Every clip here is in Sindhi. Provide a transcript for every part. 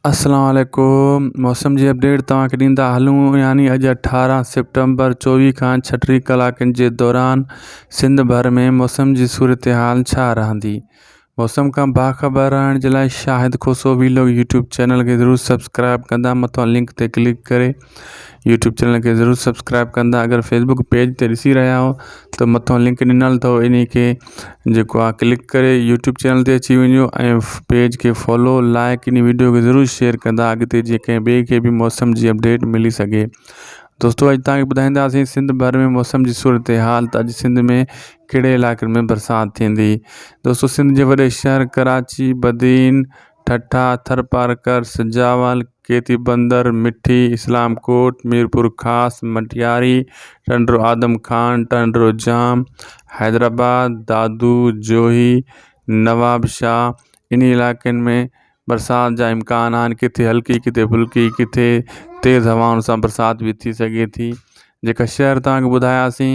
اسلام عليڪم موسم جي اپڊيٽ توهان کي ڏيندا هلون يعني اڄ اٺارهن سيپٽمبر چوويهه کان ڇٽيهه ڪلاڪن جي دوران سنڌ ڀر ۾ موسم جي صورتحال ڇا رهندي موسم کان باخبر رهڻ جي لاء Shahid Khoso vlog YouTube channel کي ضرور سبسڪرائب ڪندا مٿان لنڪ تي ڪلڪ ڪري يوٽيوب چينل کي ضرور سبسڪرائب ڪندا اگر فيسبڪ پيج تي ڏسي رهيا آهو ته مٿو لنڪ ڏنل اٿو انهي کي جيڪو آهي ڪلڪ ڪري يوٽيوب چينل تي اچي وڃو ۽ پيج کي فالو لائڪ انهي ويڊيو کي ضرور شيئر ڪندا اڳتي جي ڪنهن ٻئي کي به موسم جي اپڊيٽ ملي سگهي دوستو اڄ تان کي ٻڌائينداسين سنڌ ڀر ۾ موسم جي صورتحال ته اڄ سنڌ ۾ ڪهڙي علائقن ۾ برسات ٿيندي دوستو سنڌ جي وڏي شهر ڪراچي بدين ٺٽا ٿرپارڪر سجاول کيتي بندر، مٺي، اسلام ڪوٽ، ميرپورخاص، مٽياري، ٽنڊو آدم خان، ٽنڊو ڄام، حيدرآباد، دادو، جوهي، نوابشاهه انهي علائقن ۾ برسات جا امڪان آهن ڪٿي هلڪي ڪٿي ڦلڪي ڪٿي تيز هوائن سان برسات به ٿي سگهي ٿي جيڪا شهر توهان کي ٻڌاياسين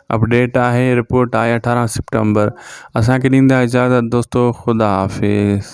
اپڊيٽ آهي رپورٽ آهي اٺارهن سيپٽمبر اسانکي ڏيندا اجازت دوستو خدا حافظ